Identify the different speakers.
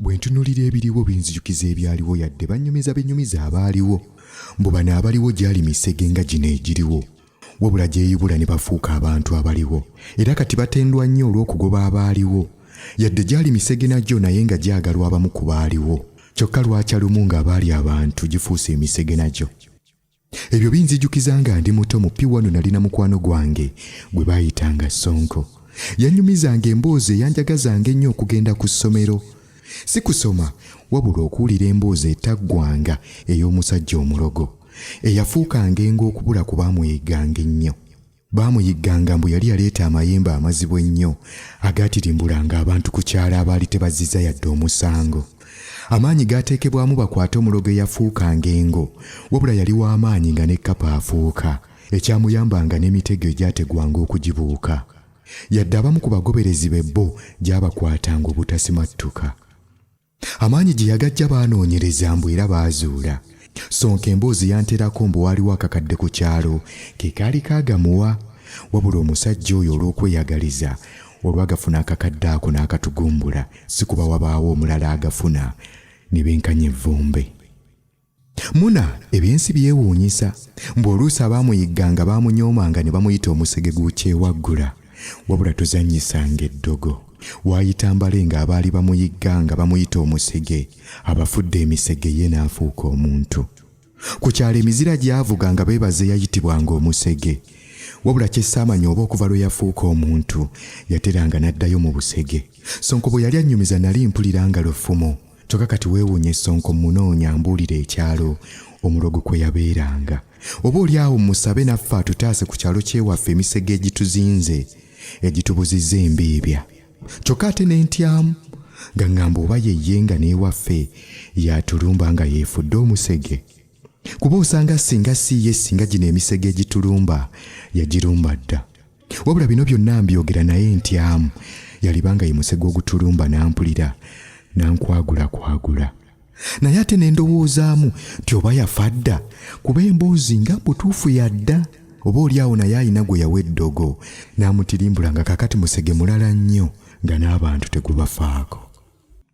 Speaker 1: Bwe ntunuulira ebiriwo binzijukiza ebyaliwo yadde bannyumiza benyumiza abaaliwo mbu bano abaliwo gyali misege nga gino egiriwo wabula gyeyubula ne bafuuka abantu abaliwo era kati batendwa nnyo olw'okugoba abaaliwo yadde gyali misege nagyo naye nga gyagalwa abamu ku baaliwo kyokka lwakya lumu ng'abaali abantu gifuuse emisege nagyo. ebyo binzijukiza nga ndi muto mu piwano nalina mukwano gwange gwe baayitanga sonko yanyumizanga emboozi eyanjagazanga ennyo okugenda ku ssomero si kusoma wabula okuwulira emboozi etaggwanga ey'omusajja omulogo eyafuukanga enga okubula ku baamweyiganga ennyo Baamuyigganga mbu yali yaleeta amayembe amazibu ennyo agaatirimbulanga abantu ku kyalo abaali tebazziza yadde omusango. Amaanyi gaateekebwamu bakwate omulogo eyafuukanga engo, wabula yali w'amaanyi nga ne kkapa afuuka, ekyamuyambanga n'emitego egyategwanga okugibuuka. Yadde abamu ku bagoberezi be bo gyabakwatanga obutasimattuka. amaanyi gye yagajja baanoonyereza mbu era baazuula sonka emboozi yanterako mbu waaliwo akakadde ku kyalo ke kaali kaagamuwa wabula omusajja oyo olw'okweyagaliza olwagafuna akakadde ako n'akatugumbula si kuba wabaawo omulala agafuna ne benkanya evvumbe Muna ebyensi byewuunyisa mbu oluusi abaamuyigganga baamunyoomanga ne bamuyita omusege gw'ukyewaggula wabula tuzannyisanga eddogo waayita mbale ng'abaali bamuyigganga bamuyita omusege abafudde emisege ye n'afuuka omuntu ku kyalo emizira gyavuga nga beebaze yayitibwanga omusege wabula kyessaamanya oba okuva lwe yafuuka omuntu yateranga n'addayo mu busege sonko bwe yali annyumiza nali mpulira nga lufumo kyoka kati weewunya esonko munoonya mbuulira ekyalo omulogo kwe yabeeranga oba oli awo musabe naffe atutaase ku kyalo kyewaffe emisege egituzinze egitubuzizza embiibya kyokka ate ne ntyamu nga ŋŋamba oba yeye nga n'ewaffe yatulumba nga yeefudde omusege kuba osanga singa si ye singa gino emisege egitulumba yagirumba dda wabula bino byonna mbyogera naye ntyamu yalibanga ye musege ogutulumba n'ampulira n'ankwagulakwagula naye ate ne ndowoozaamu nti oba yafa dda kuba emboozi nga butuufu yadda oba oli awo naye alina gwe yawa eddogo n'amutirimbula nga kakati musege mulala nnyo nga n'abantu tegubafaako